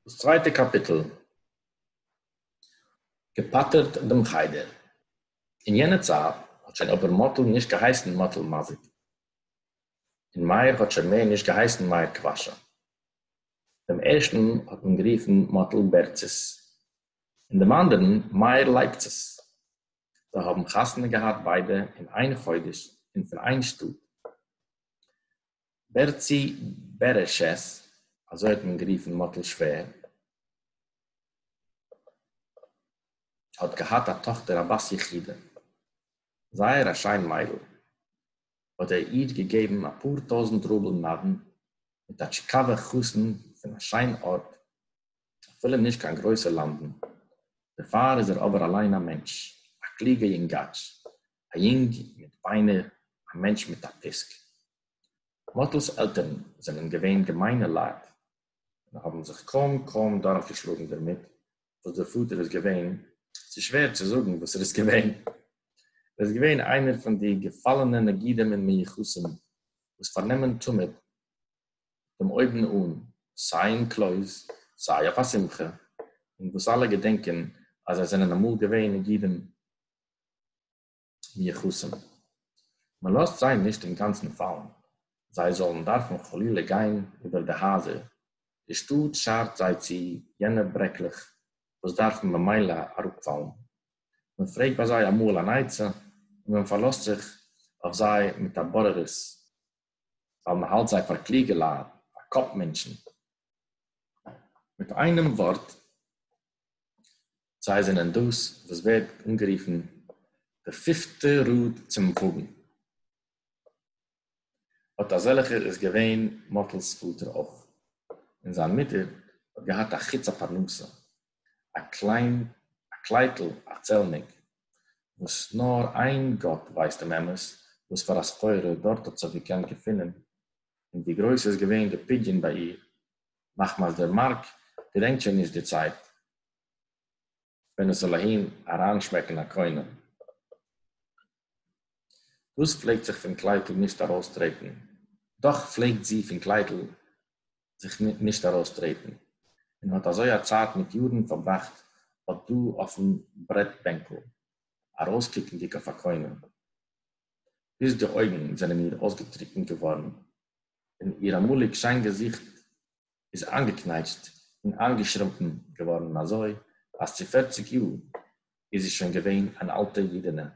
דאס צווייטע קאפיטל געפאטערט דעם חדר. אין יענע צייט האט שוין אבער מאטל נישט געהייסן מאטל מאזיק, און מאיר האט שוין מער נישט געהייסן מאיר קוואשא. דעם ערשטן האט מען גערופן מאטל בערצעס, און דעם אנדערן מאיר לייפצעס. זיי האבן חתונה געהאט ביידע אין איין חודש און פון איין שטאט. בערצי בערעשעס, אזוי האט מען גערופן מאטל שווער, האט געהאט א טאכטער א בת יחידה, זייער א שיין מיידל, האט ער איר געגעבן אפאר טויזנט רובעל נדן מיט א טשיקאווע חתן פון א שיין ארט, אפילו נישט קיין גרויסע לאנדן, דערפאר איז ער אבער אליין א מענטש, א קלוגע יונגאטש, א יונג מיט ביינער, א מענטש מיט א פיסק. מאטל'ס עלטערן זענען געווען געמיינע לייט, און האבן זיך קוים קוים דורכגעשלאגן דערמיט וואס דער פאטער איז געווען, ס'איז שווער צו זאגן וואס ער איז געווען, ער איז געווען איינער פון די געפאלענע נגידים און מיוחסים וואס פארנעמען תמיד דעם אויבן אן, סיי אין קלויז, סיי אויף א שמחה, און וואס אלע געדענקען אז זיי זענען אמאל געווען נגידים מיחוסים. מען לאזט זיי נישט אינגאנצן פאלן, זיי זאלן דארפן חלילה גיין איבער די הייזער, די שטאט שארט זיי צו יענע ברעקלעך וואס דארפן ממילא אראפפאלן. מען פרעגט ביי זיי אמאל אן עצה, און מען פארלאזט זיך אויף זיי מיט א בוררות, ווייל מען האלט זיי פאר קלוגע לייט, פאר קאפ מענטשן. מיט איינעם ווארט, זיי זענען דאס וואס ווערט אנגערופן די פיפטע ראד צום וואגן. אט אזעלכער איז געווען מאטל'ס פאטער אויך, און זיין מוטער האט געהאט א חוץ א פרנסה, א קליין א קלייטל א צעלניק, וואס נאר איין גאט ווייסט דעם אמת וואס פאר א סחורה דארט האט זיך געקענט געפונען, און ווי גרויס איז געווען די פדיון ביי איר, מחמת דער מאַרק געדענקט שױן נישט די צײַט, װען עס זאָל אַהין אַרײַנשמעקן אַ קונה, װאָס פֿלעגט זיך פֿון קלײטל נישט אַרױסטרעטן. דאָך פֿלעגט זי פֿון קלײטל זיך נישט אַרױסטרעטן און האָט אַזױ אַ צײַט מיט יאָרן פֿאַרבראַכט אָט דאָ אױפֿן ברעטבענקל, אַרױסקוקנדיק אױף אַ קונה, ביז די אױגן זענען איר אױסגעטריקנט געװאָרן. און איר אַמאָליק שיין געזיכט איז אײַנגעקנייטשט און אײַנגעשרומפּן געוואָרן אַזוי, אַז צו פֿערציק יאָר איז זי שוין געווען אַן אַלטע ייִדענע.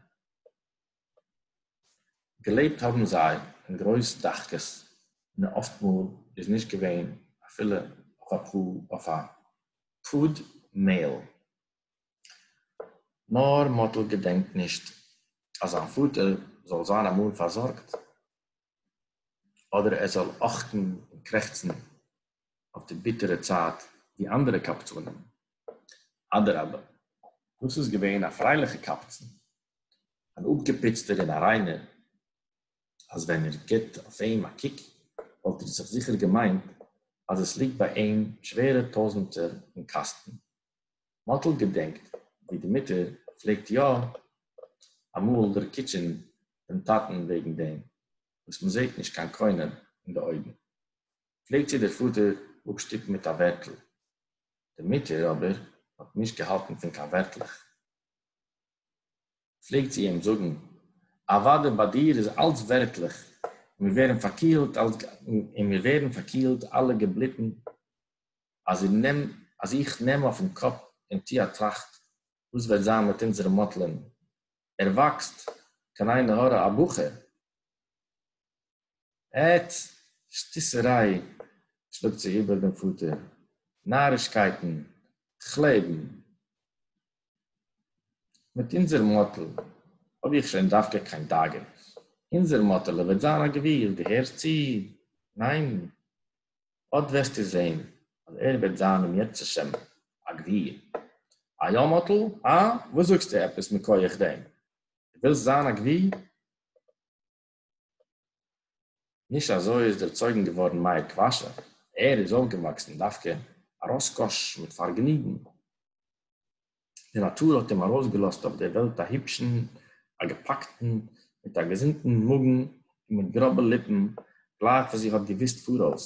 געלעבט האָבן זיי אין גרויס דחקות, און אָפֿט מאָל איז נישט געווען אַפֿילו אויף אַ פּאָר, אויף אַ פּוד מעל. נאָר מאָטל געדענקט נישט, אַז זײַן פֿאָטער זאָל זײַן אַמאָל פֿאַרזאָרגט אדער ער זאל אכטן און קרעכצן אויף די ביטערע צייט ווי אנדערע קבצנים? אדרבה, דאס איז געווען א פרייליכע קבצן, אן אפגעפוצטער און א ריינער, אז ווען איר גיבט אויף אים א קוק וואלט איר זיך זיכער געמיינט אז עס ליגט ביי אים שווערע טויזנטער און קאסטן, מאָטל געדענקט ווי די מוטער פלעגט יאָ אַמאָל דערקיטשען דעם טאַטן וועגן דעם, וואָס מע זעט נישט קיין קונה אין די אויגן, פלעגט זי דער פאָטער אָפּשטופּן מיט אַ ווערטל. די מוטער אָבער האָט נישט געהאַלטן פון קיין ווערטלעך. פלעגט זי אים זאָגן, אַוואַדע ביי דיר איז אַלץ ווערטלעך, און מיר ווערן פאַרקילט אַלע געבליטן. אז איך נעם אויפן קאפ און טו א טראכט וואס וועט זיין מיט אונזערע מאטלען, ער וואקסט קיין עין הרע א בחור? עט! שטיסעריי! שלאגט זי איבער דעם פאטער, נארישקייטן, כ'לעבן מיט אונזער מאטל האב איך שוין דווקא קיין דאגה, אונזער מאטעלע וועט זיין א גביר, דו הערסט צו? ניין? אָט װעסטו זען, אַז ער װעט זײַן, אם ירצה שם, אַ גבֿיר. אַ יאָ, מאָטל? האַ? װאָס זאָגסטו עפּעס מכּוח דעם? דו װילסט זײַן אַ גבֿיר? נישט אַזױ איז דערצױגן געװאָרן מאיר קװאַשע. ער איז אױפֿגעװאַקסן דװקא אַ ראָסקאָש, מיט פֿאַרגעניגן. די נאטור האט אים ארויסגעלאזט אויף דער וועלט א היבשן, א געפאקטן, מיט א געזונטן מאגן און מיט גראבע ליפן, גלייך ווי זי האט געוואוסט פאראויס,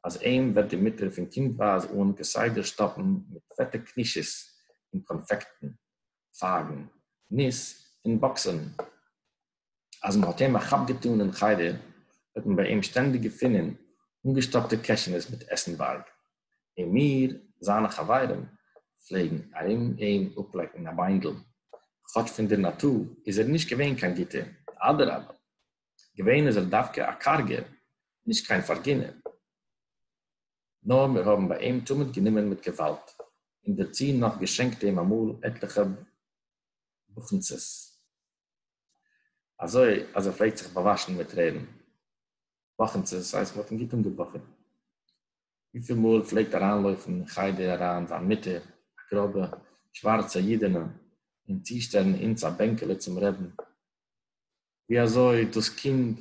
אז אים וועט די מוטער פון קינדווייז אן כסדר שטאפן מיט פעטע קנישעס און קאנפעקטן, פייגן, ניס און באקסען. אז מען האט אים א כאפ געטאן אין חדר, האט מען ביי אים שטענדיג געפונען אנגעשטאפטע קעשענעס מיט עסן בארג, און מיר, זיינע חברים, פלעגן ארום אים אפלעקן א ביינדל, כאטש פון דער נאטור איז ער נישט געווען קיין גוטער, אדרבה, געווען איז ער דווקא א קארגער, נישט קיין פארגינער. נאר מיר האבן ביי אים תמיד גענומען מיט געוואלד, און דערצו נאך געשענקט אים אמאל עטליכע באכנצעס. אַזוי, אַז ער פֿלעגט זיך באַוואַשן מיט טרערן. וואָכנצעס, ס'הייסט, מ'האָט אים גוט אָנגעבאָכעט. ווי פֿיל מאָל פֿלעגט אַרײַנלויפֿן אין חדר אַרײַן זײַן מוטער, אַ גראָבע, שוואַרצע ייִדענע, און צושטעלן אונדז אַ בענקעלע צום רעדן. ווי אַזוי דאָס קינד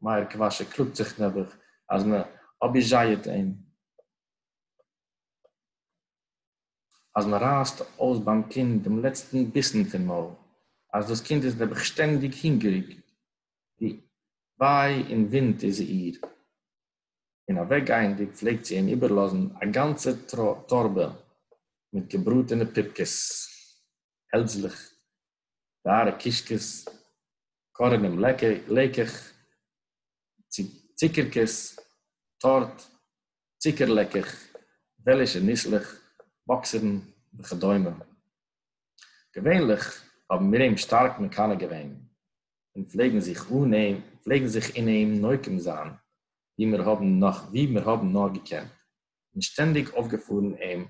מאיר קוואַשע קלאָגט זיך, נעבעך, אַז מע אָביוזשייעט אים. אז מען רייסט אויס ביים קינד דעם לעצטן ביסן פון מויל, אז דאס קינד איז נעבעך שטענדיג הונגעריג, ווי וויי און וואונד איז איר, און אוועקגייענדיג פלעגט זי אים איבערלאזן א גאנצע טארבע מיט געבראטענע פיפקעס, העלדזלעך, גארע קישקעס, קארענעם לעקעך, צוקערקעס, טארט, צוקער-לעקעך, וועלישע ניסלעך, באקסערן וכדומה. געווענליך האבן מיר אים שטארק מקנא געווען, און פלעגן זיך אן אים, פלעגן זיך אין אים נוקם זיין ווי מיר האבן נאר, ווי מיר האבן נאר געקענט, און שטענדיג אויפגעפארן אים,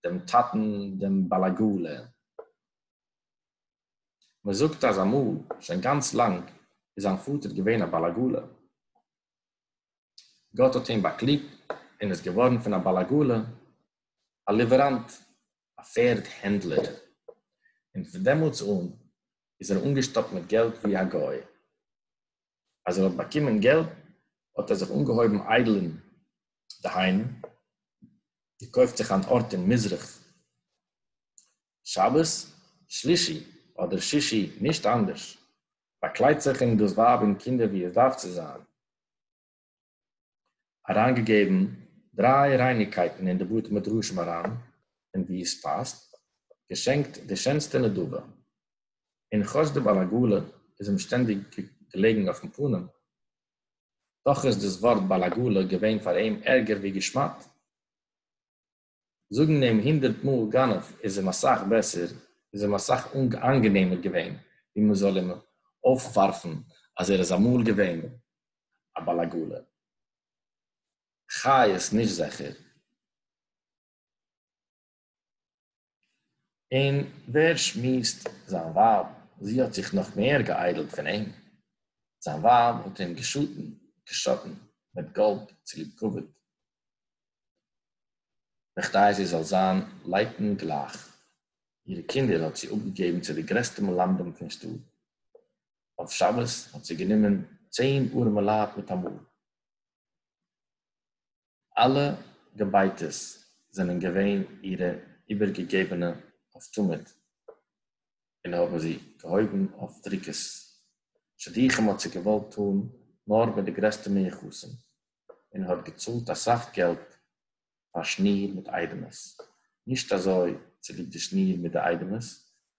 דעם טאטן, דעם בעל עגלה. מ'זאגט אז אמאל, שוין גאנץ לאנג, איז זיין פאטער געווען א בעל עגלה. גאָט האָט אים באַקליגט און איז געװאָרן פֿון אַ בעל-עגלה אַ ליװעראַנט, אַ פֿערד-הענדלער, און פֿון דעמאָלט אָן איז ער אָנגעשטאָפּט מיט געלט װי אַ גױ. אַז ער האָט באַקומען געלט, האָט ער זיך אָנגעהױבן אײדלען, דהײַנו, געקױפֿט זיך אַן אָרט אין מזרח, שבת, שלישי אָדער שישי, נישט אַנדערש, באקליידט זיך אים דאס ווייב און קינדער ווי עס דארף צו זיין, אריינגעגעבן דריי רייניקייטן אין די בתי מדרשים אריין און ווי עס פאסט, געשענקט די שענסטע נדבה, און כאטש די בעל עגלה איז אים שטענדיג געלעגן אויפן פנים, דאך איז דאס ווארט בעל עגלה געווען פאר אים ערגער ווי געשמאט. זאגן אים הונדערט מאל גנב איז אים אסאך בעסער, איז אים אסאך איינגענעמער געווען ווי מען זאל אים אויפווארפן אז ער איז אמאל געווען א בעל עגלה. חיות נישט זעכער. און ווער שמועסט זיין ווייב, זי האט זיך נאך מער געאיידלט פון אים, זיין ווייב האט אים געשאטן מיט גאלד צוליב כבוד. בכדי זי זאל זיין לייטן גלייך אירע קינדער האט זי אפגעגעבן צו די גרעסטע מלמדים פון שטאט. אויף שבת האט זי גענומען צען ארעמעלייט מיטאמאל. אלע געבייטעס זענען געווען אירע איבערגעגעבענע אויף תמיד און האבן זי געהויבן אויף דריקות. שידוכים האט זי געוואלט טאן נאר מיט די גרעסטע מיוחסים, און האט געצאלט אסאך געלט פאר שניר מיט איידעמעס, נישט אזוי צוליב די שניר מיט די איידעמעס,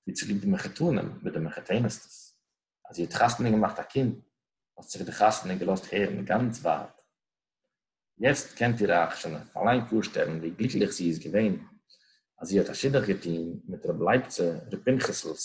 ווי צוליב די מחותנים מיט די מחותנת'טעס, אז זי האט חתונה געמאכט א קינד, האט זיך די חתונה געלאזט הערן גאנץ ווייט. יעצט קענט איר אייך שוין אליין פארשטעלן ווי גליקליך זי איז געווען אז זי האט א שידוך געטון מיט רבי לייבצע ר' פנחס'לס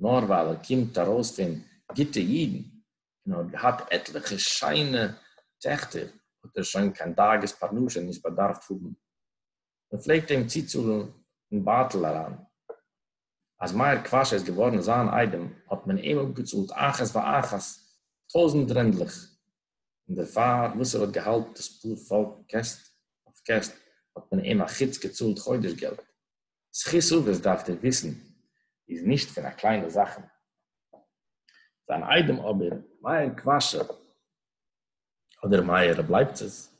נאר ווייל ער קומט ארויס פון גוטע אידן און האט געהאט עטליכע שיינע טעכטער האט ער שוין קיין דאגות פרנסה נישט באדארפט האבן, מען פלעגט אים צוצאלן אין בייטל אריין. אז מאיר קוואשע איז געווארן זיין איידעם האט מען אים אפגעצאלט אחת ואחת טויזנט רענדלעך, און דערפאר וואס ער האט געהאלט דאס פאר פאלק קעסט אויף קעסט האט מען אים אחוץ געצאלט חודש געלט. זכות אבות דארפט איר וויסן איז נישט פון א קליינע זאכן. זיין איידעם אבער, מאיר קוואשער, אדער מאיר רב לייפציץ,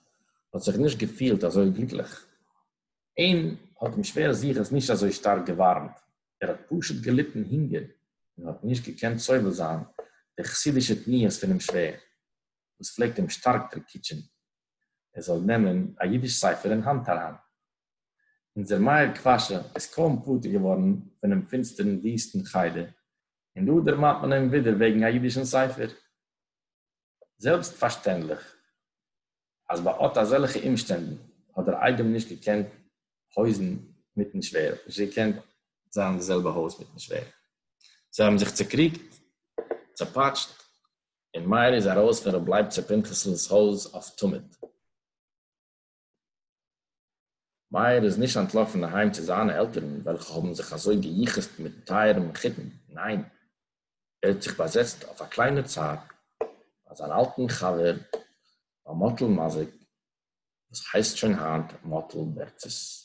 האט זיך נישט געפילט אזוי גליקליך. אים האט אים שווער זכות נישט אזוי שטארק געווארעמט, ער האט פשוט געליטן הונגער און האט נישט געקענט סובל זיין די חסידישע פניות פונעם שווער, וואס פלעגט אים שטארק דרקיטשען ער זאל נעמען א אידיש ספר אין האנט אריין. אונזער מאיר קוואשע איז קוים פטור געווארן פונעם פינסטערן וויסטן חדר, און דא דערמאנט מען אים ווידער וועגן א אידישן ספר. זעלבסט פארשטענדליך אז ביי אט אזעלכע אומשטענדן האט דער איידעם נישט געקענט הויזן מיטן שווער, נישט געקענט זיין אין די זעלבע הויז מיטן שווער. זיי האבן זיך צעקריגט, צעפאטשט, און מאיר איז ארויס פון רב לייב צו פנחס'לס הויז אויף תמיד. מאיר איז נישט אנטלאפן אהיים צו זיינע עלטערן וועלכע האבן זיך אזוי געיחסט מיטן טייערן מחותן, ניין, ער האט זיך באזעצט אויף א קליינע צייט ביי זיין אלטן חבר ביי מאטל מאזיק וואס הייסט שוין היינט מאטל בערצעס.